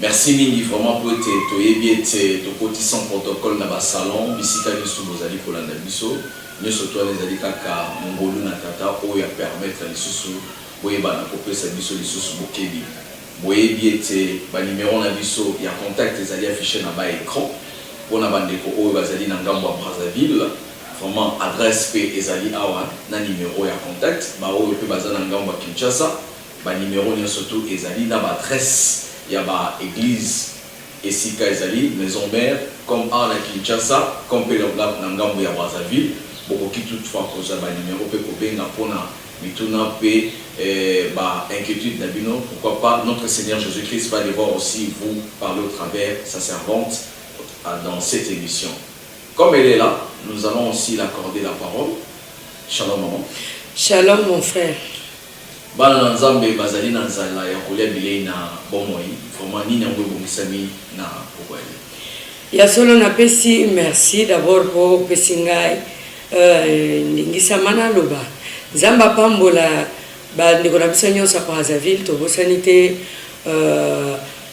Merci mingi vraiment po ete toyebi ete tokoti sans protocole na ba salons bisika nioso bozali kolanda biso. Nioso to wana ezali kaka ngolu na Tata oyo a permettre lisusu boyeba na kopesa biso lisusu bokebi. Boyebi ete ba numeros na biso ya contact ezali afficher na ba ecrans. Po na ba ndeko oyo bazali na ngambo ya Brazzaville, vraiment adresse pe ezali awa na numero ya contact. Ba oyo pe baza na ngambo ya Kinshasa, Ba numero nionso to ezali na ba adresse ya ba eglise esika ezali maison mère comme awa na Kinshasa comme pe na ngambo ya Brazzaville. Bokoki toutefois kozua ba numero pe kobenga pona mituna pe ba inquietudes na bino. Pourquoi pas Notre Seigneur Jesus Christ va devoir aussi vous parler au travers sa servante dans cette emission. Comme elle est là, nous allons aussi l'accorder la parole. Shalom maman. Shalom mon frère. Bana na Nzambe bazali na nzala ya kolia bilei na bomoi. Vraiment nini yango ebongisami na bokoli? Ya solo na pesi merci d'abord po opesi ngai ndingisa ma naloba. Nzambe apambola ba ndeko na biso nionso ya Brazzaville tobosani te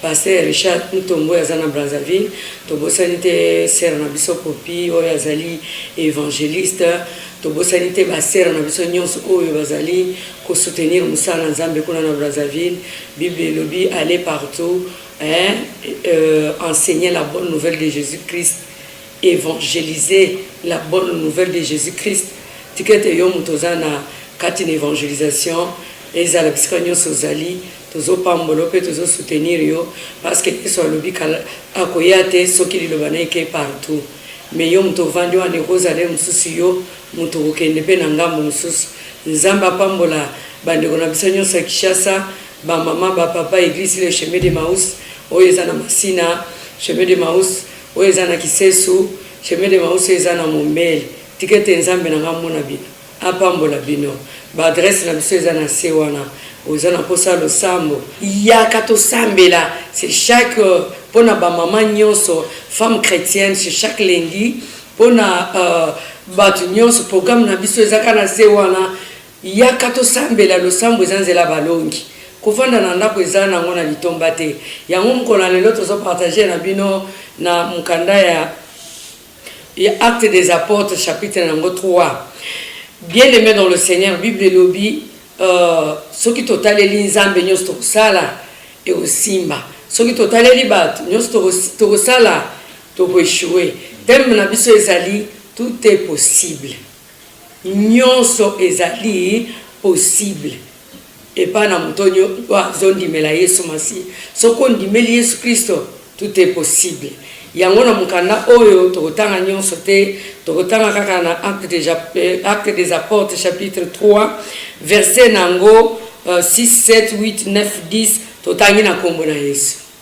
Pasteur Richard Mutombo oyo aza na Brazzaville, tobosani te sœur na biso Poppy oyo azali evangeliste, tobosani te ba sœurs na biso nyonso oyo bazali ko soutenir mosala na Nzambe kuna na Brazzaville. Bible elobi aller partout hein, euh, enseigner la bonne nouvelle de Jésus-Christ, évangéliser la bonne nouvelle de Jésus-Christ. Tikete yo moto oza na kati na evangelisation, ezala bisika nyonso ozali, Tozo pambola yo pe tozo soutenir yo parce que yesu alobi kala akoya te soki liloba naye eke partout mais yo mutu ovandi wana ekozala yo mususu yo mutu okokende pe na ngambo mususu nzambe apambola ba ndeko na biso nionso ya kishasa ba maman ba papa eglise le chemin de maus oyo eza na masina chemin de maus oyo eza na kisesu chemin de maus oyo eza na mombele tikete nzambe na nga amona bino. Apambola bino. Ba adresse na biso eza na se wana. Oza na posa ya losambo? Yaka tosambela. C'est chaque pona ba maman nionso, femme chretienne, c'est chaque lundi pona batu nionso. Programme na biso eza kaka na se wana. Yaka tosambela. Losambo eza nzela ya balongi. Kovanda na ndako eza nango na litomba te. Yango mokolo ya lelo tozo partager na bino na mokanda ya. Ya Actes des apotres chapitre nango 3 bien aime dans le seigneur bible elobi soki totaleli nzambe nionso tokosala ekosimba soki totaleli batu nionso tokosala toko echoue thème na biso ezali tout est possible nionso ezali possible Epai na moto oyo azo ndimela yesu masiya soki ondimeli yesu christo tout est possible yango na mokanda oyo tokotanga nionso te tokotanga kaka na acte des apportes chapitre 3 verset na yango 6 7 8 9 10 totangi na kombo na yesu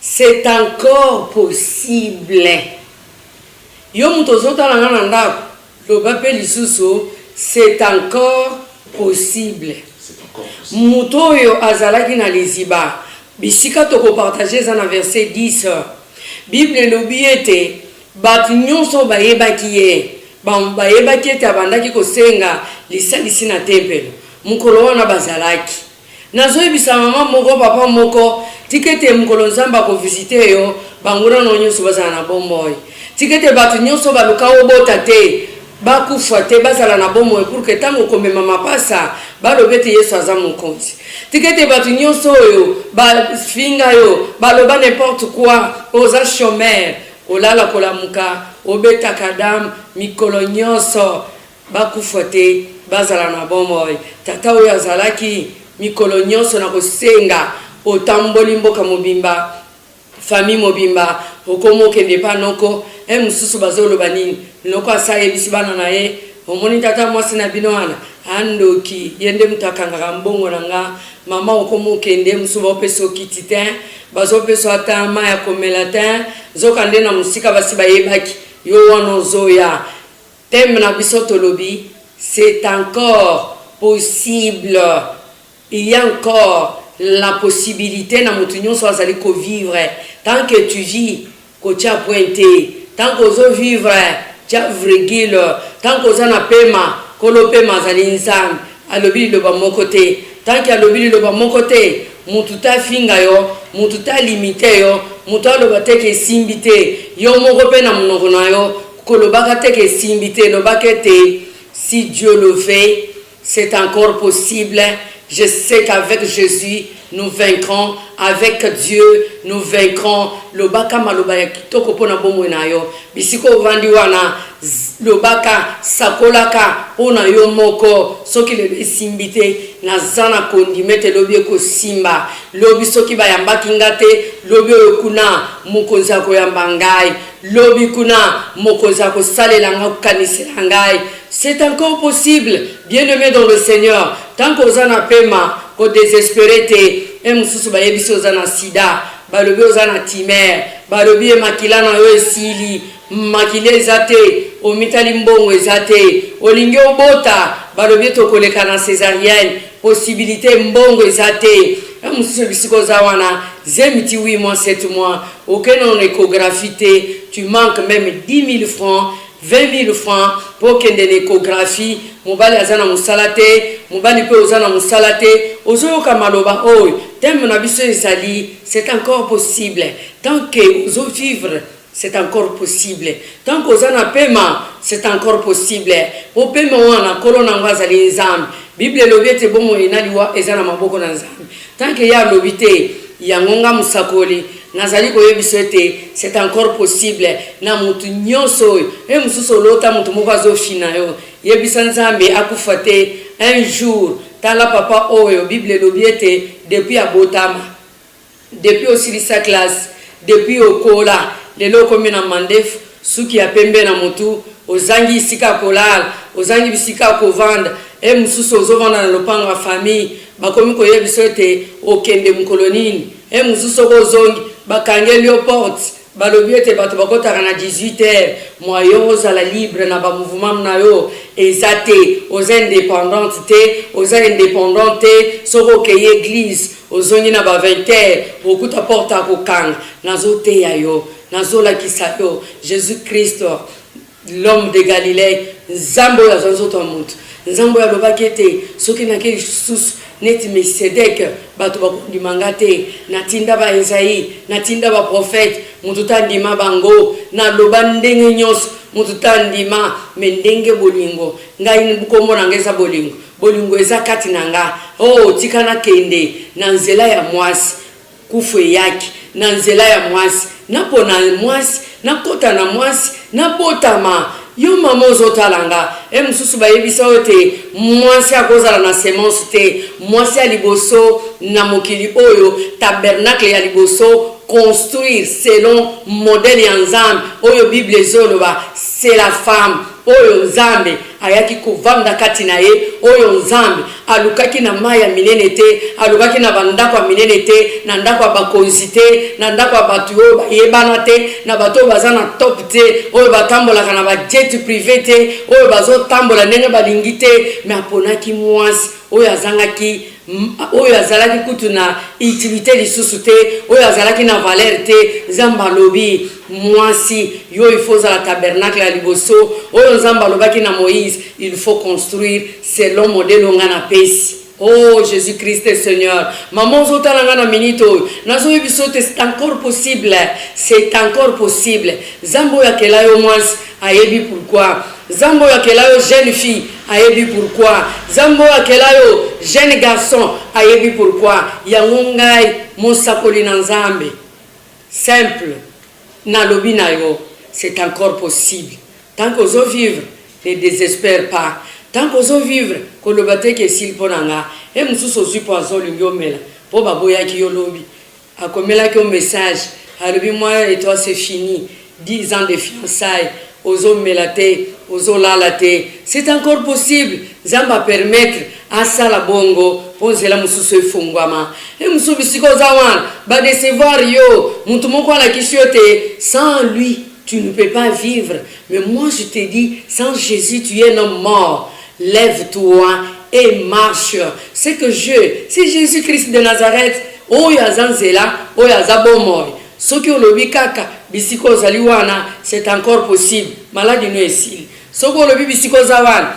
C'est encore possible yo mutu ozo tala nga na ndaku loba pe lisusu c'est encore possible mutu oyo azalaki na liziba bisika toko partager eza na verset 10 bible elobi ete batu nionso oyo bayebaki ye bayebaki ete abandaki kosenga lisalisi na tempelo mukolo wana bazalaki Nazoyebisa maman moko papa moko tika ete mokolo nzambe ako visite yo banguna no nionso bazala na bomoi tika ete batu nionso baluka obota te bakufa te bazala na bomoi pour que tango okomema mapasa baloba ete yesu aza mokonzi tika ete batu nionso oyo ba finga yo baloba n'importe quoi oza chomeur olala kolamuka obetaka dame mikolo nionso Bakufa te, bazala na bomoi. Tata oyo azalaki mikolo nyonso na kosenga, otamboli mboka mobimba, famille mobimba, okomi okende epai noko, eh mosusu bazoloba nini? Noko asi ayebisi bana na ye, omoni tata mwasi na bino wana? Ah ndoki, ye nde moto akangaka mbongo na nga. Mama okomi okende, eh mosusu baopesa yo kiti tein, bazopesa yo ata mayi ya komela tein, nzoka nde na mosika basi bayebaki yo wana ozoya. Thème na biso tolobi c'est encore possible il ya encore la possibilite na mutu nionso azali ko vivre tant que tu vis kotia point te tant que ozo vivre tia vrigule tant que oza na pema kolo pema azali nzambe alobi liloba moko te tant que alobi liloba moko te mutu te afinga yo mutu te alimite yo mutu aloba te ke esimbi te yo moko pe na munoko na yo Kolobaka te ke esimbi te, lobaka ete si Dieu le veut c'est encore possible, je sais qu'avec Jesus nous vaincrons, avec Dieu nous vaincrons, lobaka maloba ya kitoko mpo na bomoi na yo. Bisika ovandi wana, lobaka, sakolaka mpo na yo moko, soki lelo esimbi te, naza na kondima ete lobi ekosimba, lobi soki bayambaki nga te, lobi oyo kuna, Mokonzi akoyamba ngai. Lobi kuna mokonzi akosalela nga okanisela ngai c'est encore possible bien aime dans le seigneur tant que oza na pema ko desespere te heure mosusu bayebisi oza na sida balobi oza na timer balobi ye makila na yo esili makila eza te omitali mbongo eza te olingi obota balobi ete okoleka na cesarienne possibilite mbongo eza te na mosusu ebisika oza wana zemi ti 8 mois 7 mois okende na ecographie te tu manque meme 10 000 francs 20 000 francs mpo okende na ecographie mobali aza na mosala te mobali mpe oza na mosala te ozoyoka maloba oyo teme na biso ezali c'est encore possible tant que ozovivre C'est encore possible tant que oza na pema c'est encore possible po pema wana nkolo na yango azali nzambe bible elobi ete bomoi na liwa eza na maboko na nzambe tant que ye alobi te yango nga mosakoli nazali koyebiso ete c'est encore possible na mutu nyonso oyo e mosusu olota mutu moko azofina yo yebisa nzambe akufa te un jour tala papa oyo bible elobi ete depuis abotama Depuis osilisa classe depuis okola lelo okomi na mandefu suki ya pembe na mutu ozangi esika ya kolala ozangi bisika ya kovanda he mususu ozo vanda na lopango ya famille bakomi koyebiso ete okende mukolo nini he mususu soki ozongi bakangeliyo porte Balobi ete bato bakotaka na 18 heures, moyen ozala libre na ba mouvements na yo eza te, oza independante te, oza independant te, soki okeyi eglise ozongi na ba 20 heures okokuta porte ya kokanga, nazoteya yo, nazolakisa yo Jesus Christ, L'homme de Galilee, Nzambe oyo azwa nzoto ya moto, Nzambe oyo alobaki ete, Soki nakei lisusu, neti Melikisedeke, bato bakondima ngai te. Natinda ba Ezayi, natinda baprofete, moto te andima bango. Naloba ndenge nyonso, moto te andima. Mai ndenge bolingo ngai, nkombo na ngai eza bolingo, bolingo eza kati na ngai, oh, tika nakende na nzela ya mwasi. Kufu eyaki na nzela ya mwasi, napona mwasi, nakota na mwasi, nabotama, yo mama ozotala nga, he mosusu bayebisa yo te mwasi akozala na semence te, mwasi ya liboso na mokili oyo, tabernacle ya liboso, construire selon modèle ya Nzambe oyo bible ezoloba, c'est la femme. Oyo Nzambe ayaki kovanda kati na ye, oyo Nzambe alukaki na mai ya minene te, alukaki na bandako ya minene te, na ndako ya bakonzi te, na ndako ya bato oyo bayebana te, na bato oyo baza na top te, oyo batambolaka na ba jet prive te, oyo bazotambola ndenge balingi te, mais aponaki muasi oyo azangaki, oyo azalaki kutu na utilite lisusu te, oyo azalaki na valeur te, Nzambe alobi. Muasi yo il faut ozala tabernacle ya liboso oyo nzambe alobaki na moise il faut construire selon modelo nga na pesi Oh Jesus Christ Seigneur, maman ozotala nga na minute oyo nazoyebiso te c'est encore possible, c'est encore possible. Zambo oyo akela yo mwasi ayebi pourquoi. Zambo oyo akela yo jeune fille ayebi pourquoi. Zambo oyo akela yo jeune garçon ayebi pourquoi. Yango ngai mosakoli na Nzambe Simple na lobi na yo c'est encore possible tant que ozo vivre ne desespère pas tant que ozo vivre ko loba te ke esili po na nga he mususu ozui poison olingi omela po ba boyaki yo lobi ako melaki yo message alobi moi et toi c'est fini Dix ans de fiançailles ozo mela te ozo lala te c'est encore possible nzambe a permettre asala bongo po nzela mususu efonguama he musubi sika oza wana ba decevoir yo mutu moko alakisi yo te sans lui tu ne peux pas vivre mais moi je te dis sans Jesus tu es un homme mort lève toi et marche ce que je c'est Jesus Christ de Nazareth oyo aza nzela oyo aza bomoi Soki olobi kaka bisika ozali wana c'est encore possible maladi no esili soki olobi bisika oza wana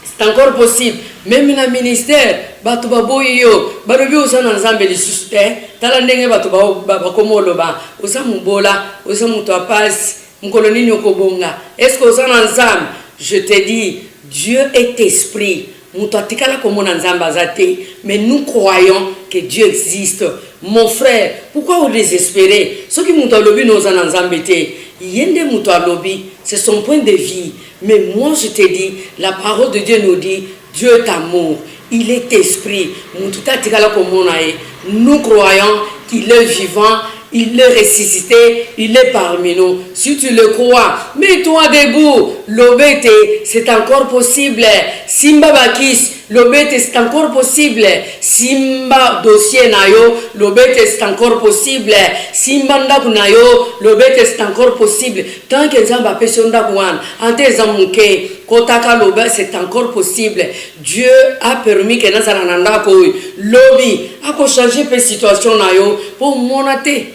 c'est encore possible meme na ministère bato baboyi yo balobi oza na nzambe lisusu te tala ndenge bato bakoma oloba oza mobola oza moto ya pasi mokolo nini okobonga eske oza na nzambe je te dis dieu est esprit Mutu atikala komona nzambe aza te mais nous croyons que Dieu existe mon frère pourquoi o desespere soki mutu alobi no oza na nzambe te ye nde mutu alobi c'est son point de vie mais moi je te dis la parole de Dieu nous dit Dieu est amour il est esprit mutu te atikala komona ye Nous croyons qu'il est vivant, il est ressuscite, il est parmi nous, si tu le crois mets toi debout loba ete c'est encore possible, simba ba kisi loba ete c'est encore possible, simba dossier na yo loba ete c'est encore possible, simba ndaku na yo loba ete c'est encore possible, tant que nzambe apesi yo ndaku wana ata eza muke kotaka loba c'est encore possible. Dieu a permis que nazala na ndako oyo lobi ako changer pe situation na yo po omona te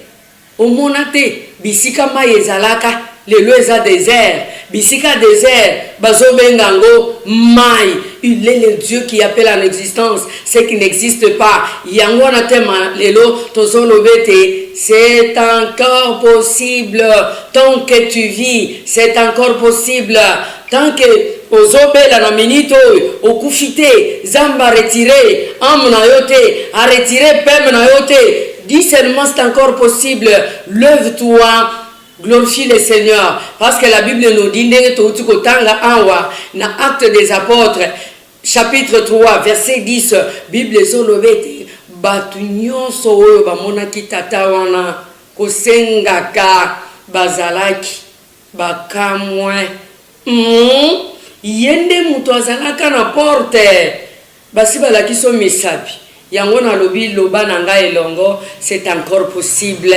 omona te bisika mayi ezalaka lelo eza desert bisika desert bazo benga yango mayi il est le Dieu qui appelle en existence ce qui n'existe pas yango wana te ma lelo tozo loba ete c'est encore possible tant que tu vis c'est encore possible Tant que ozo bela na minute oyo okufi te zambe a retire ame na yo te a retire peme na yo te dit seulement c'est encore possible leuve toi glorifie le seigneur parce que la bible nous dit ndenge towuti kotanga awa na acte des apotres chapitre 3 verset 10 bible ezo loba ete batu nionso oyo bamonaki tata wana kosengaka bazalaki Ba kamue humm ye nde mutu azalaka na porte basi balakisi yo misapi yango nalobi loba na nga elongo c'est encore possible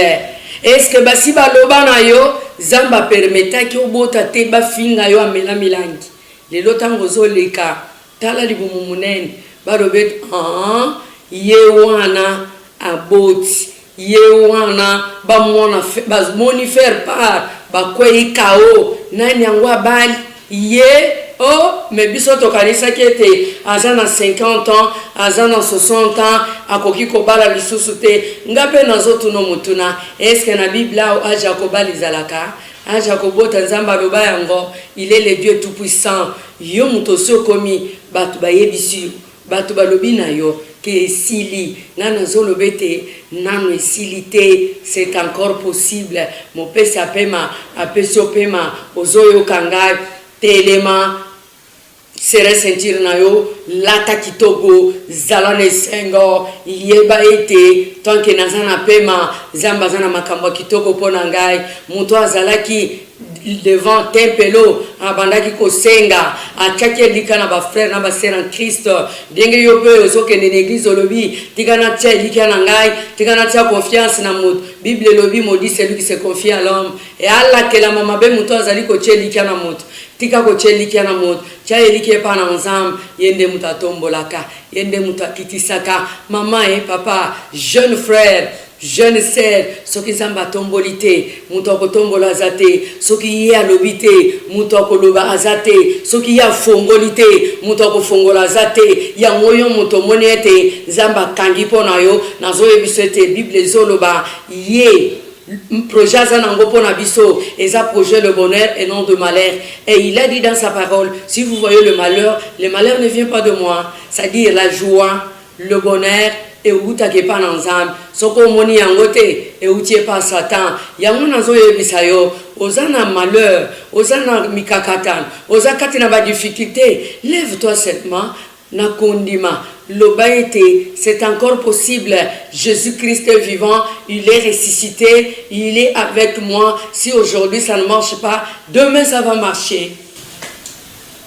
est ce que basi baloba na yo zambe a permetaki obota te bafinga yo amela milangi lelo tango ozo leka Tala libumu munene balobi ete aah ye wana aboti ye wana ba mwana ba moni ferre part ba kweyi KO nani yango abali ye oh mais biso tokanisaki ete aza na 50 ans aza na 60 ans akoki kobala lisusu te nga pe nazo tuno motuna est ce que na biblao age ya kobala ezalaka age ya kobota nzambe aloba yango il est le Dieu tout puissant Yo mutu osi okomi batu bayebisi yo batu balobi na yo ke esili nga nazo loba ete nanu esili te c'est encore possible mopesi apema apesi yo pema ozo yoka nga telema serre ceinture na yo lata kitoko zala na esengo yeba ete tant que naza na pema zambe aza na makambo ya kitoko pona ngai mutu azalaki devant tempelo abandaki kosenga atiaki elika na ba frère na ba sœur en Christ ndenge yo pe ozokende na église olobi tika natia elikya na ngai tika natia confiance na moto bible elobi maudit celui qui se confie à l'homme e alakelama mabe moto azali kotia elikya na moto tika kotia elikya na moto tia elikya epa na nzambe ye nde moto atombolaka ye nde moto akitisaka mama e papa jeune frère Jeune sœur soki nzambe atomboli te mutu akotombola aza te soki ye alobi te mutu akoloba aza te soki ye afongoli te mutu akofongola aza te yango yo mutu omoni ete nzambe akangi po na yo nazoyebiso ete bible ezoloba ye projet aza nango po na biso eza projet le bonheur et non de malheur et il a dit dans sa parole si vous voyez le malheur le malheur ne vient pas de moi c'est à dire la joie Le bonheur ewutaka epa na nzambe soki omoni yango te ewuti epa satan yango nazo yebisa yo oza na malheur oza na mikakatano oza kati na ba difficulte leve toi seulement na kondima loba ete c'est encore possible Jesus Christ est vivant il est ressuscite il est avec moi si aujourd'hui ça ne marche pas demain ça va marcher.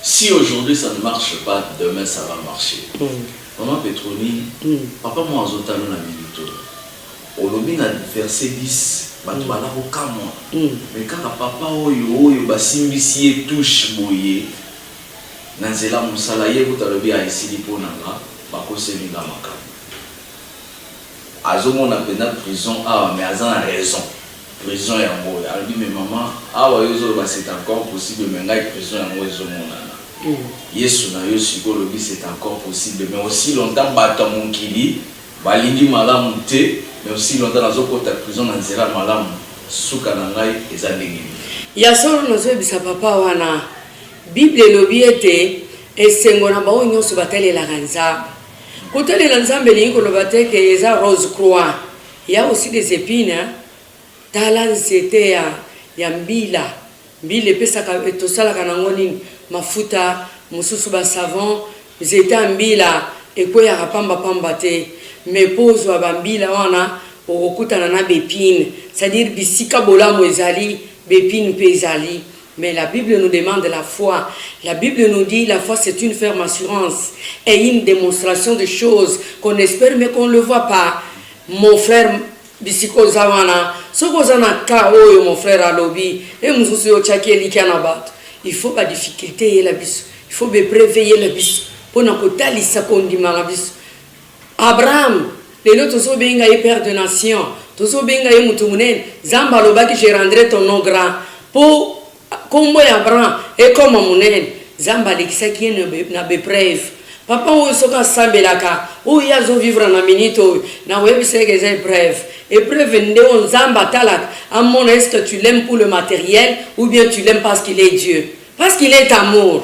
Si aujourd'hui ça ne marche pas demain ça va marcher maman petronile papa moko azo tala yo na minute oyo olobi na verset 10 batu ba la kokamua mais kaka papa oyo oyo ba simbisi ye touche boye na nzela musala ye kutu alobi ah esili po na nga ba koseli nga makambu. Azo mona penza prison awa mais aza na raison prison yango oyo alobi mais maman awa yo ozo loba c'est encore possible mais ngai prison yango ezo monana yesu na yo sikoyo olobi c'est encore possible mais aussi longtemps batu ya mokili ba lingi malamu te mais aussi longtemps nazo kota prison na nzela ya malamu suka na ngai eza ndenge nini. Ya solo nazo yebisa papa wana bible elobi ete esengo na baoyo nionso ba talelaka nzambe. Kotalela Nzambe elingi koloba te que eza rose croix, il ya aussi des epines hein, tala nzete ya ya mbila, mbila epesaka tosalaka na ngo nini? mafuta, mususu ba savon, nzete ya mbila ekweyaka pamba pamba te mais po ozua ba mbila wana okokutana na b'epines, c'est à dire bisika bolamu ezali b'epines pe ezali. Mais la bible nous demande la foi, la bible nous dit la foi c'est une ferme assurance et une demonstration de choses qu'on espère mais qu'on le voit pas mon frère bisika oza wana soki oza na cas oyo mon frère alobi e mosusu yo otyaki elikya na bato il faut ba difficulté eyela biso il faut bepreve eyela biso mpo na kotalisa kondima na biso Abraham lelo tozo benga ye père de nation tozo benga ye mutu munene zambe alobaki je rendrai ton nom grand po kombo ya Abraham ekoma munene zambe alekisaki ye na be preuve papa oyo soki asambelaka oyo ye azo vivre na minute oyo nako yebisa ye ke eza epreuve epreuve nde oyo zambe atalaka amona est ce que tu l'aimes pour le materiel ou bien tu l'aimes parce qu'il est Dieu parce qu'il est amour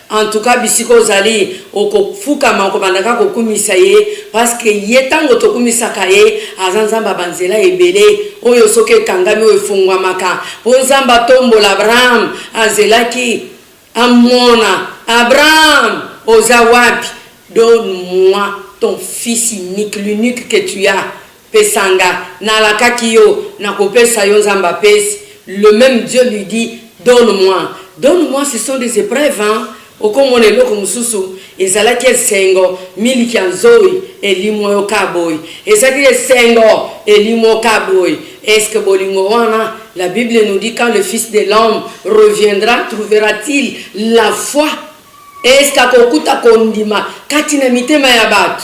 En tout cas bisika ozali okofukama okobanda kaka kokumisa ye parce que ye tango tokumisaka ye aza nzambe ya banzela ebele oyo soki ekangami oyo efongwamaka po nzambe atombola Abraham azelaki amona Abraham oza wapi donne moi ton fils unique l'unique que tu as Pesa nga, nalakaki yo, nakopesa yo Nzambe apesi, le meme Dieu lui dit donne moi, donne moi ce sont des epreuves hein, okomona eloko mosusu, ezalaki esengo, miliki ya nzoi elimwa yo kka boye, ezalaki esengo elimwa yo kka boye, est-ce que bolingo wana, la bible nous dit quand le fils de l'homme reviendra trouvera-t-il la foi, est-ce que akokuta kondima kati na mitema ya batu?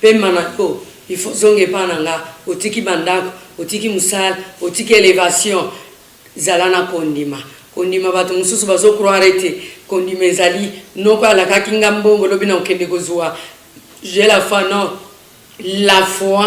Pema na yo il faut zonga epa na nga otiki ba ndaku otiki musala otiki elevation zala na kondima kondima batu mususu bazo croire ete kondima ezali noko alakaki nga mbongo lobi nakokende kozua j'ai la foi non la foi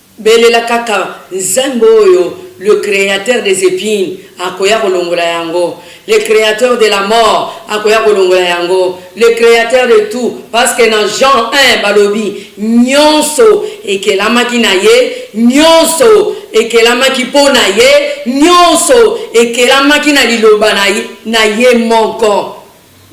Belela kaka nzembo oyo le createur des epines akoya kolongola yango, le createur de la mort akoya kolongola yango, le createur de tout parce que na Jean un balobi nionso ekelamaki na ye, nionso ekelamaki po na ye, nionso ekelamaki na liloba na ye moko.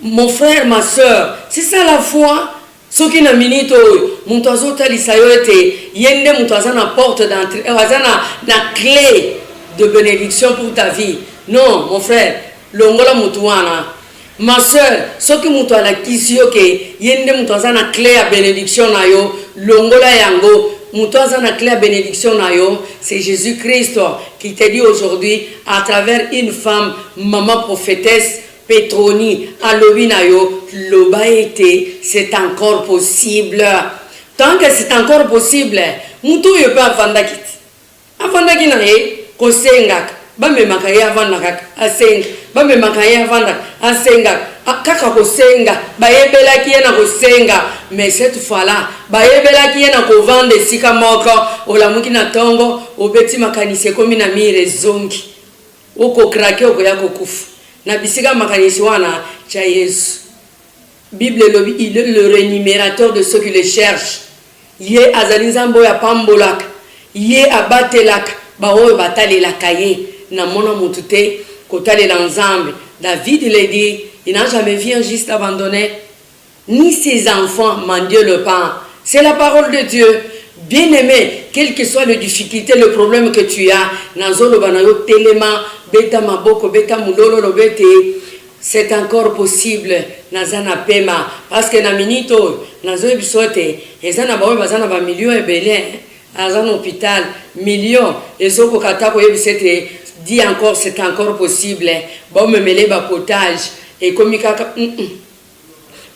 Mon frère, ma soeur, c'est ça la foi? Soki na minute oyo mutu azo talisa yo ete ye nde mutu aza na porte d'entree eh aza na na cle de benediction pour ta vie non mon frère longola mutu wana ma soeur soki mutu alakisi yo ke ye nde mutu aza na cle ya benediction na yo longola yango mutu aza na cle ya benediction na yo c'est Jesus Christ qui te dit aujourd'hui à travers une femme maman prophetesse Petroni alobi na yo loba ete c'est encore possible tant que c'est encore possible mutu oyo pe avandaki ti avandaki na ye kosengaka bamemaka ye avanda kaka asenga bamemaka ye avandaka asengaka kaka kosenga bayebelaki ye na kosenga mais cette fois là bayebelaki ye na kovanda esika moko olamuki na tongo obeti makanisi ekomi na mur ezongi Oko craquer okoya ko kufa na bisika ya makanisi wana tya yesu bible elobi il est le renumerateur de ceux qui le cherche ye azali nzambe oyo apambolaka ye abatelaka ba oyo batalelaka ye na mona mutu te kotalela nzambe david le dit il n'a jamais vu un juste abandonne ni ses enfants m'en Dieu le pan c'est la parole de Dieu bien aime quel que soit le difficulte le problème que tu as nazo loba na yo telema beta maboko beta mulolo oloba ete c'est encore possible naza na pema parce que na minute oyo nazo yebisa yo ete eza na baoyo baza na ba millions ebele hein aza na hopital millions ezo koka ata koyebisa ete dit encore c'est encore possible bomemele ba potage ekomi kaka mm -mm.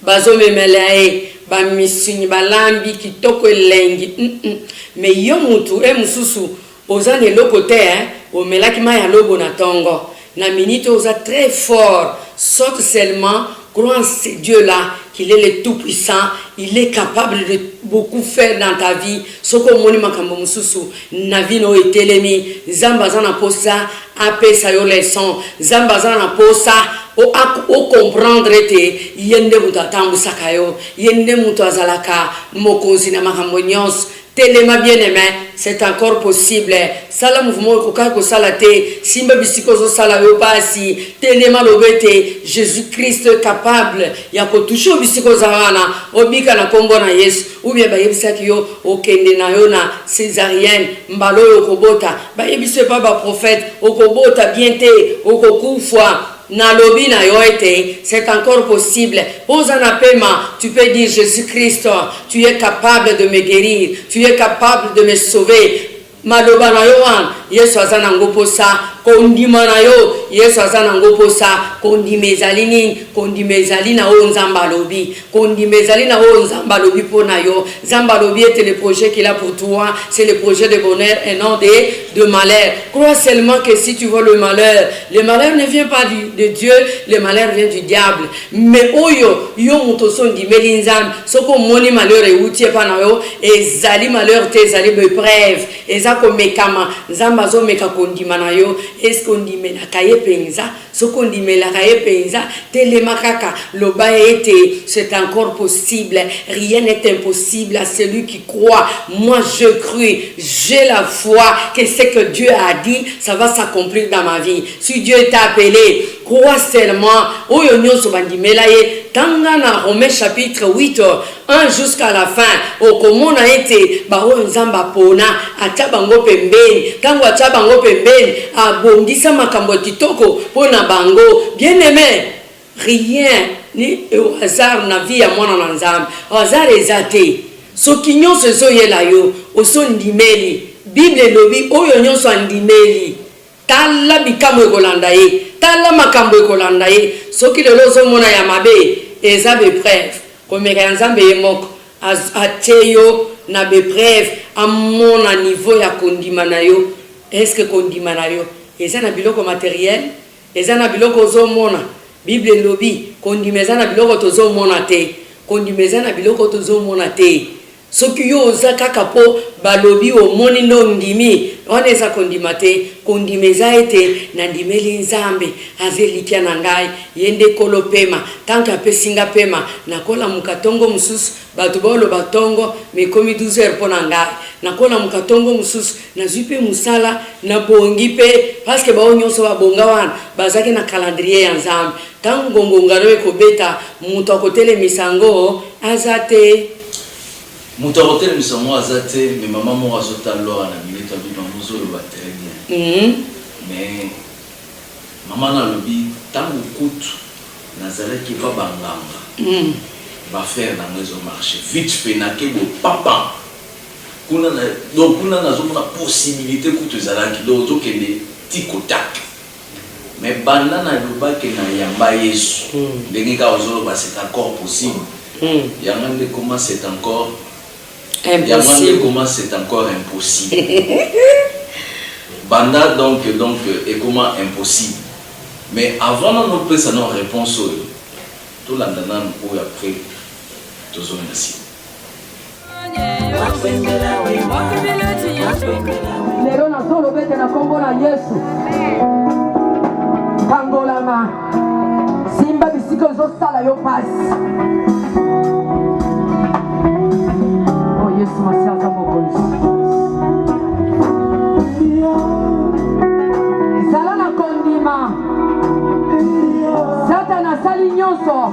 Bazo memela ye ba misuni ba lambi kitoko elengi humm mais yo mutu he mususu oza na eloko te hein omelaki mayi ya lobo na tongo na minute oyo oza très fort saute seulement crois en ce Dieu là qu'il est le tout puissant il est capable de beaucoup faire dans ta vie soki omoni makambo mususu Na vie nayo etelemi nzambe aza na posa apesa yo leçon nzambe aza na posa o comprendre ete ye nde mutu atambusaka yo ye nde mutu azalaka mokonzi na makambo nionso telema bien aime c'est encore possible sala mouvement okokaki kosala te simba bisika ozo sala yo pasi telema loba ete Jesus Christ est capable ya ko touche yo bisika oza wana obika na kombo na yesu Ou bien bayebisaki yo okende na yo na cesarienne mbala oyo okobota bayebisi yo epa ba prophète okobota bien te okokufua nalobi na yo ete c'est encore possible po oza na pema tu peux dire je suis christ tu es capable de me guerir tu es capable de me sauver Maloba na yo wana yesu aza na ngo posa kondima na yo yesu aza na ngo posa kondima ezali nini kondima ezali na oyo nzambe alobi kondima ezali na oyo nzambe alobi mpo na yo nzambe alobi ete le projet qu'il a pour toi c'est le projet de bonheur et non de, de malheur crois seulement que si tu vois le malheur le malheur ne vient pas du, de dieu le malheur vient du diable Mais oyo yo mutu osi ondimeli nzambe soki omoni malheur ewuti epa na yo ezali malheur te ezali bepreve eza komekama nzambe azo meka kondima na yo eske ondimelaka ye penza soki ondimelaka ye penza telema kaka loba ete c'est encore possible rien n'est impossible à celui qui croit moi je crue j'ai la foi que ce que Dieu a dit ça va s'accomplir dans ma vie si Dieu t'a appele Crois seulement oyo nionso bandimela ye, tanga na Romains chapitre 8, 1 jusqu'à la fin, okomona ete baoyo Nzambe apona, atia bango pembeni, tango atia bango pembeni, abongisa makambo ya kitoko mpo na bango. Bien-aime, rien n'est au hasard na vie ya mwana na Nzambe. Hasard eza te. Soki nionso ezoyela yo, osi ondimeli. Bible elobi, oyo nionso andimeli. Tala bikamwa ekolanda ye. Tala makambo ekolanda ye. Soki lelo ozo mona ya mabe, eza be preuves. Komeka ya Nzambe ye moko atie yo na be preuves, amona niveau ya kondima na yo. Est-ce que kondima na yo eza na biloko materiel? Eza na biloko ozo mona? Bible elobi kondima eza na biloko tozo mona te. Kondima eza na biloko tozo mona te. Soki yo oza kaka po balobi omoni nde ondimi, wana eza kondima te, kondima eza ete na ndimeli Nzambe, aza elikya na ngai, ye nde kolo pema, tant que apesi nga pema, nako lamuka tongo mosusu, batu bao loba tongo mais ekomi 12 heures po na ngai, nako lamuka tongo mosusu, nazui pe musala, na bongi pe, parce que bao nionso ba bonga wana bazalaki na calendrier ya Nzambe, tangu gongonga na yo eko beta, mutu ako telemisa yango aza te. Mutu ako telemisa ngo aza te mais maman moko azo tal lora na minute alobi maman ozo loba très bien mais maman na alobi tangu kutu na zalaki epa ba nganga ba faire na ngo ezo marche vite fait na ke bo papa kuna na donc kuna nazo mona possibilite kutu ezalaki donc ozo kende tic au tac Mais banda na loba ke na yamba yesu ndenge kaka ozo loba c'est encore possible yanga nde comment c'est encore yanga nde comment c'est encore impossible banda donc donc ekoma impossible mais avant nanu opesa nao reponse oyo tolanda nanu oyo après tozonga sima. lelo nazolobete na nkombo na yesu kangolama simba bisika ezosala yo pasi o oh, yesu masi aza mokonzi zala na kondima satana asali nyonso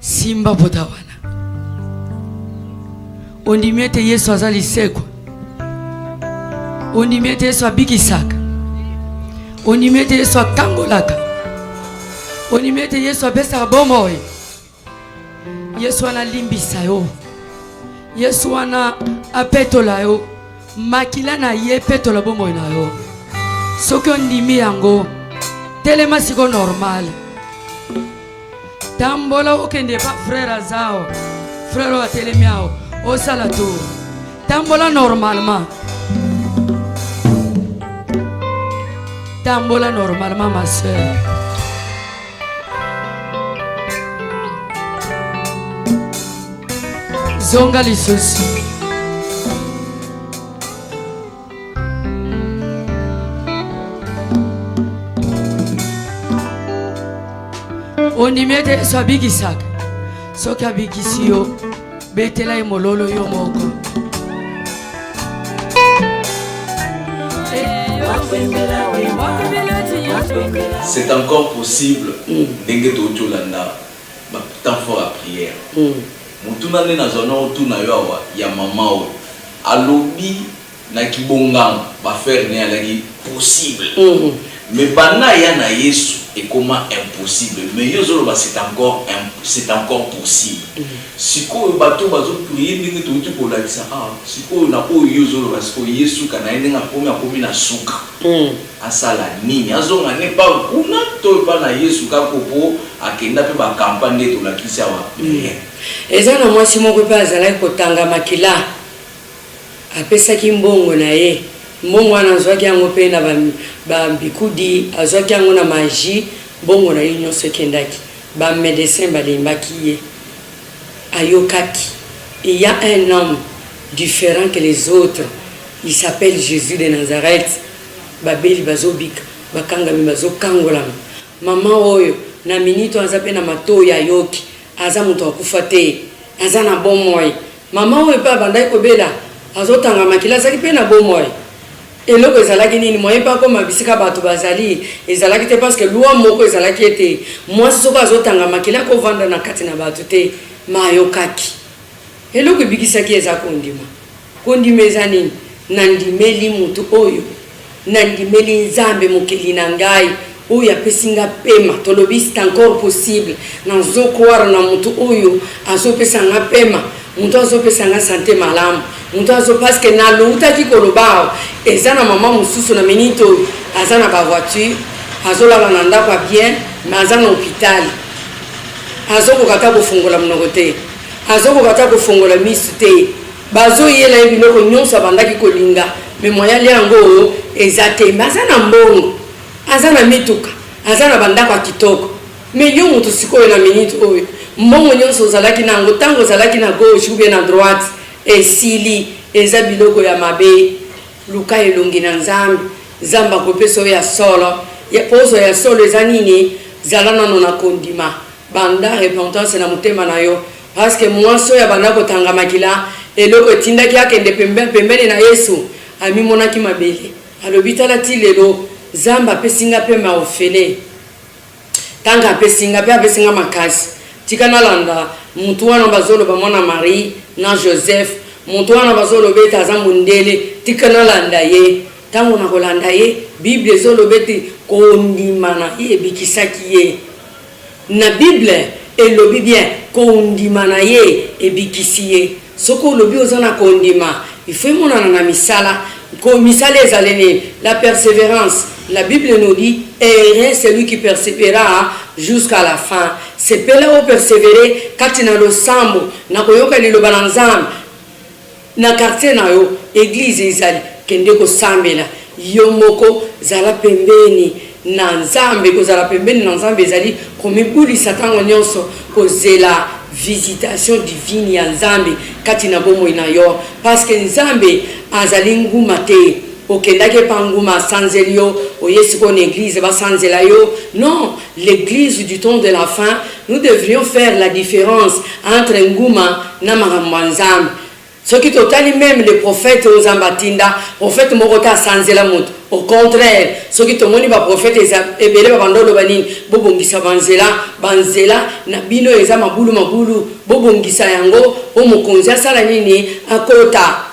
Simba pota wana. Ondimi ete Yesu aza lisekwa. Ondimi ete Yesu abikisaka. Ondimi ete Yesu akangolaka. Ondimi ete Yesu apesaka bomoi. Yesu wana alimbisa yo. Yesu wana apetola yo. Makila na ye epetola bomoi na yo. Soki ondimi yango, telema siko normal. tambola okende epa frere azao frere oyo atelemi ao osala tour tambola normalement tambola normalement ma sœur zonga lisusu ondimi ete yesu abikisaka soki abikisi yo betela ye mololo yo moko c'est encore possible mm. ndenge touti olanda batemps fort ya prière mm. Motuna nde nazwa nao tuna yo awa ya maman oyo alobi na kibonganga ba ferre naye alaki possible mais banda aya na yesu ekoma impossible mais yo ozoloba c'est encore c'est encore possible sikoyo bato oyo bazo prier ndenge towuti kolakisa awa sikoyo na oyo yo ozoloba sikoyo ye suka naye ndenge akomi akomi na suka Asala nini azonga ne epa kuna to epa na yesu kako po akenda pe ba campa nde tolakisi awa rien. Eza na mwasi moko pe azalaki kotanga makila apesaki mbongo na ye mbongo wana azwaki yango pe na ba bikudi azwaki yango na magie mbongo na ye nionso ekendaki ba medecin balembaki ye ayokaki il ya un homme different que les autres il s'appelle Jesus de Nazareth. Babeli bazobika, bakangami bazokangolama. Mama oyo, na minute oyo, aza pe na matoyi, ayoki. Aza mutu akufa te. Aza na bomoi. Mama oyo pe abandaki kobela, azotanga makila, azalaki pe na bomoi. Eloko ezalaki nini? Moyen pe akoma bisika batu bazali, ezalaki te. Parce que loi moko ezalaki ete, mwasi soki azotanga makila, akovanda na kati na batu te. Mais ayokaki. Eloko ebikisaki ye eza kondima. Kondima eza nini? Nandimeli moto oyo. Nandimeli Nzambe, Mokeli na ngai, oyo apesi nga pema. Tolobi c'est encore possible. Nazo croire na moto oyo azo pesa nga pema, moto azo pesa nga sante malamu, moto azo parce que naloutaki koloba awa, eza na maman mosusu na minute oyo aza na ba voitures, azo lala na ndako ya bien mais aza na hopital. Azo koka ata kofungola monoko te. Azokoka ata kofongola misu te bazo yela ye biloko nionso abandaki kolinga mais moyen alia yango eza te mais aza na mbongo aza na mituka aza na ba ndako ya kitoko mais yo mutu sikoyo na minute oyo mbongo nionso ozalaki na yango tango ozalaki na gauche ou bien na droite esili eza biloko ya mabe luka elongi na nzambe nzambe akopesa yo ya solo po ozwa ya solo eza nini zala nano na kondima. Banda repentance na motema na yo parce que muasi oyo abanda kotanga makila eloko etindaki akende pembe pembeni na yesu amimonaki mabele alobi tala ti lelo zambe apesi nga pe ma ofele tanga apesi nga pe apesi nga makasi tika nalanda mutu wana bazoloba mwana marie na joseph mutu wana bazoloba ete aza mondele tika nalanda ye ntango na kolanda ye bible ezoloba ete kondima na ye ebikisaki ye Na bible elobi bien kondima na ye ebikisi ye soki olobi oza na kondima il faut emonana na misala ko misala ezali nini la perseverance la bible nous dit heureux celui qui persevera jusqu'à la fin sepela o persevere kati na losambo na koyoka liloba na nzambe Na quartier na yo eglise ezali kende kosambela yo moko zala pembeni na nzambe kozala pembeni na nzambe ezali komibulisa tango nionso kozela visitation divine ya nzambe kati na bomoi na yo parce que nzambe azali nguma te okendaki epa nguma asanzeli yo oye sikoyo na eglise basanzela yo non l'eglise du temps de la fin Nous devrions faire la difference entre nguma na makambo ya nzambe soki totali meme le prophète oyo nzambe atinda prophète moko te asanzela moto au contraire soki tomoni ba prophète eza ebele babanda oloba nini bobongisa banzela banzela na bino eza mabulu mabulu bobongisa yango po mokonzi asala nini akota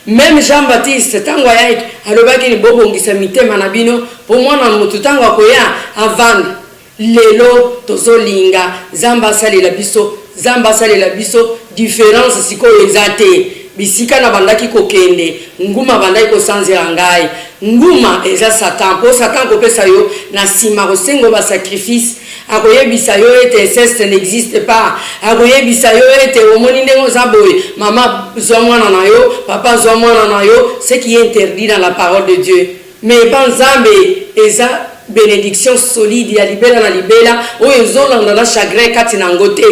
meme jean baptiste ntango ayaki alobaki ni bobongisa mitema na bino po mwana moto ntango akoya avanda Lelo tozo linga nzambe asalela biso nzambe asalela biso difference sikoyo eza te bisika na bandaki ko kende nguma abandaki ko sanzela ngai nguma eza satan po satan ako pesa yo na sima ako senga yo ba sacrifice ako yebisa yo ete inceste n'existe pas ako yebisa yo ete omoni ndenge oza boye mama zua mwana na yo papa zua mwana na yo ce qui est interdit dans la parole de Dieu. Mais epa nzambe eza benediction solide ya libela na libela oyo ezo landa na chagrin kati nango te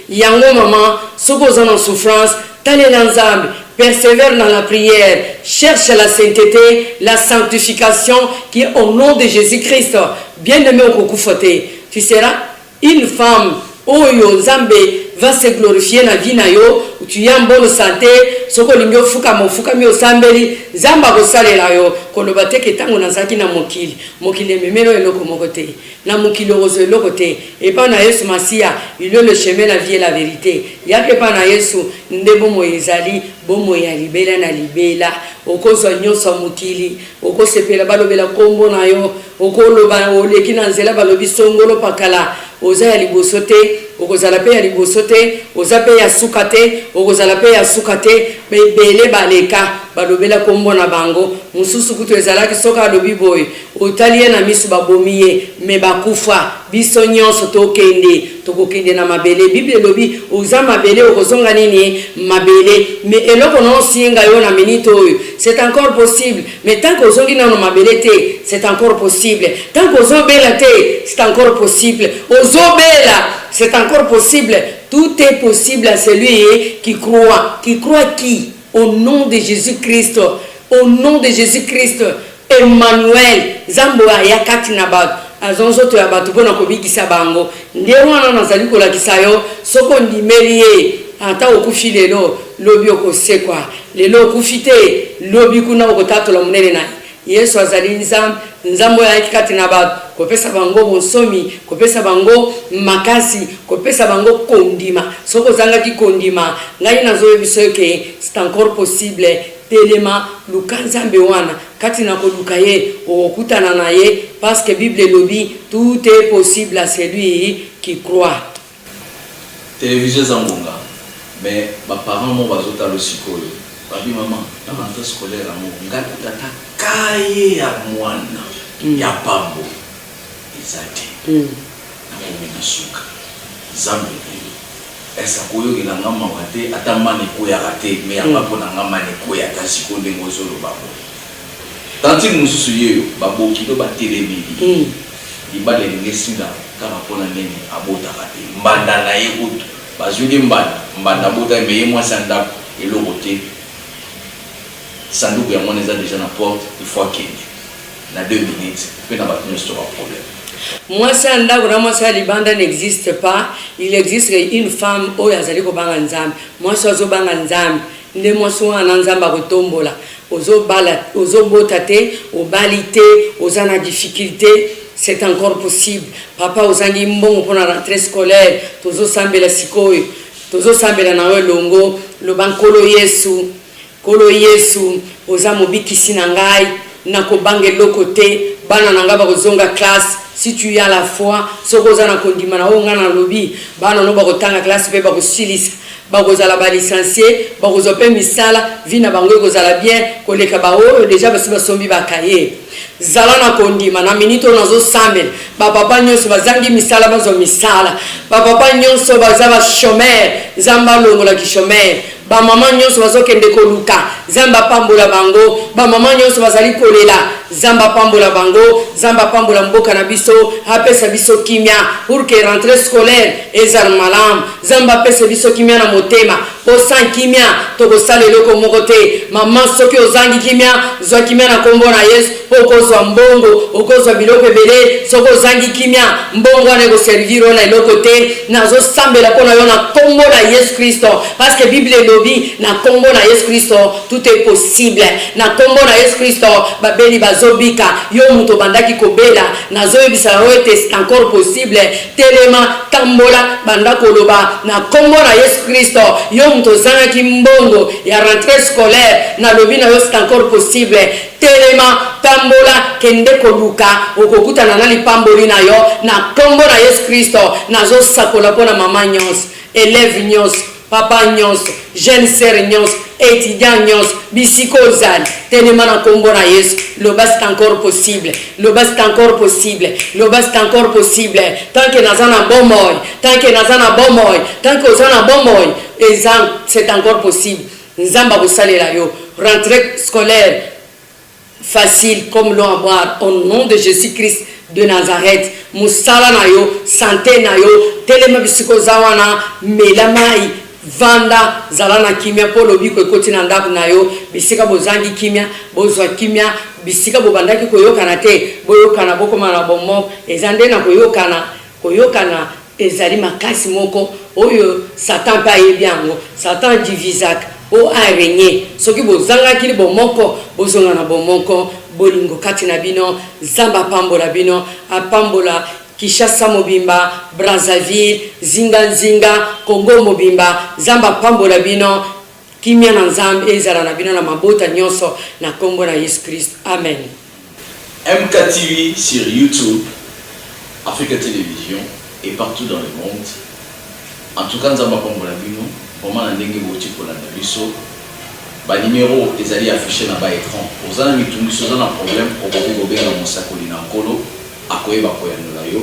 yango maman soki oza na souffrance talela nzambe persevere na la prière cherche la saintete la sanctification qui au nom de Jesus Christ bien aime okokufa te tu seras Une femme oyo nzambe va se glorifier na vie na yo, tu es en bonne sante, soki olingi ofukama ofukami osambeli nzambe akosalela yo, koloba te ke tango nazalaki na mokili, mokili ememeli yo eloko moko te, na mokili okozwa eloko te, epa na yesu masiya il est le chemin la vie et la verite, yaka epa na yesu nde bomoi ezali, bomoi ya libela na libela, okozwa nionso ya mokili. Okosepela balobela kombo na yo okoloba oleki na nzela balobi songolo pakala oza ya liboso te okozala pe ya liboso te oza pe ya suka te okozala pe ya suka te ebele baleka balobela kombo na bango mosusu kutu ezalaki soki alobi boye otali ye na misu babomi ye me bakufa biso nionso tokende Tokokende na mabele bible elobi oza mabele okozonga nini mabele mais eloko na osinga yo na minute oyo c'est encore possible mais tant que ozongi nano mabele te c'est encore possible tant que ozo bela te c'est encore possible ozo bela c'est encore possible tout est possible à celui qui croit qui croit qui Au nom de Jesus Christ au nom de Jesus Christ Emmanuel nzambe oyo aya kati na batu azwa nzoto ya batu pona kobikisa bango nde wana nazali kolakisa yo soki ondimeli ye ata okufi lelo lobi okosekwa lelo okufi te lobi kuna okotatola monene na Yesu azali Nzambe, Nzambe oyo ayaki kati na bato, kopesa bango bonsomi, kopesa bango makasi, kopesa bango kondima. Soki ozangaki kondima, ngai nazoyebisa yo ke c'est encore possible, telema, luka Nzambe wana. Kati na koluka ye, okokutana na ye, parce que Bible elobi, tout est possible à celui qui croit. Television eza ngonga mais ba parents moko bazo talo sikoyo babi maman na rentree scolaire yango nga na tata cahier ya muana ya pambo eza te na komi na suka zambe na yo est ako yokela nga mawa te ata mana ekweyaka te mais yamba pona nga mana ekweya ata sikoyo ndenge ozo loba boye Tantine mosusu ye oyo ba bokilo ba telemeli ye. Libala elingi esila kaka po na nene abotaka te. Mbanda na ye kutu ba zuili ye mbanda. Mbanda abotaki mais ye mwasi ya ndaku eloko te. Sanduku yango wana eza dejà na porte il faut akende na deux minutes pe na batu nionso to ba problème. Mwasi ya ndaku na mwasi ya libanda n'existe pas, il existe une femme oyo azali kobanga Nzambe. Mwasi oyo azo banga Nzambe Nde mwasi wana nzambe akotombola ozo bala ozo bota te obali te oza na difficulte c'est encore possible papa ozangi mbongo pona rentre scolaire tozo sambela sikoyo tozo sambela na yo elongo loba nkolo yesu nkolo yesu oza mobikisi na ngai na kobanga eloko te bana na ngai bako zonga classe si tu ya la foi soki oza na kondima na oyo ngai na lobi bana no bako tanga classe pe bako silisa Bakozala ba licencies, bakozwa pe misala, vie na bango ekozala bien koleka ba oyo dejà basi basombi ba cahiers. Zala na kondima, na minute oyo nazo sambela, ba papa nionso bazangi misala bazwa misala, ba papa nionso baza ba chomeurs, Nzambe alongola ki chomeurs, ba maman nionso bazo kende koluka, Nzambe apambola bango, ba maman nionso bazali kolela, Nzambe apambola bango, Nzambe apambola mboka na biso, apesa biso kimia pour que rentree scolaire ezal malamu. Nzambe apesa biso kimia na motema po sans kimia tokosala eloko moko te maman soki ozangi kimia zwa kimia na kombo na yesu po okozwa mbongo okozwa biloko ebele soki ozangi kimia mbongo wana ekoservir yo na eloko te nazosambela po na yo na kombo na yesu kristo parceke bible elobi na kombo na yesu kristo tout est possible na kombo na yesu kristo babeli bazobika yo moto obandaki kobela nazoyebisa yo ete c'est encore possible Telema, tambola, banda koloba na kombo na yesu christo, yo moto ozangaki mbongo ya rentree scolaire na lobi na yo c'est encore possible, telema, tambola, kende koluka okokutana na lipamboli na yo na kombo na yesu christo, nazo sakola pona maman nionso, elève nionso, Papa nionso, jeune sœur nionso, etudiant nionso, bisika ozali, telema na kombo na Yesu, loba c'est encore possible, loba c'est encore possible, loba c'est encore possible, tant que naza na bomoi, tant que naza na bomoi, tant que oza na bomoi, eza c'est encore possible, Nzambe akosalela yo, rentree scolaire, facile comme l'eau en boire au nom de Jesus Christ de Nazareth musala na yo sante na yo telema bisika oza wana mela mayi vanda zala na kimia mpo lobiko ekoti na ndako na yo bisika bozangi kimia bozwa kimia bisika bobandaki koyokana te boyokana bokoma na bomoko eza nde na koyokana koyokana Ezali makasi moko oyo Satan mpe ayebi yango. Satan a divisaka mpo a regner. Soki bozangaki bomoko, bozonga na bomoko, bolingo kati na bino. Nzambe apambola bino, apambola Kinshasa mobimba, Brazzaville, zinga nzinga, Congo mobimba. Nzambe apambola bino. Kimia na Nzambe ezala na bino na mabota nionso na kombo na Yesu Christ Amen. MK TV sur YouTube, Africa Television et partout dans le monde en tout cas Nzambe apambola bino vraiment na ndenge bowuti kolanda biso ba numero ezali affiche na ba ecran oza na mitungisi oza na problème okoki kobenga mosakoli na Nkolo akoyeba koyanola yo.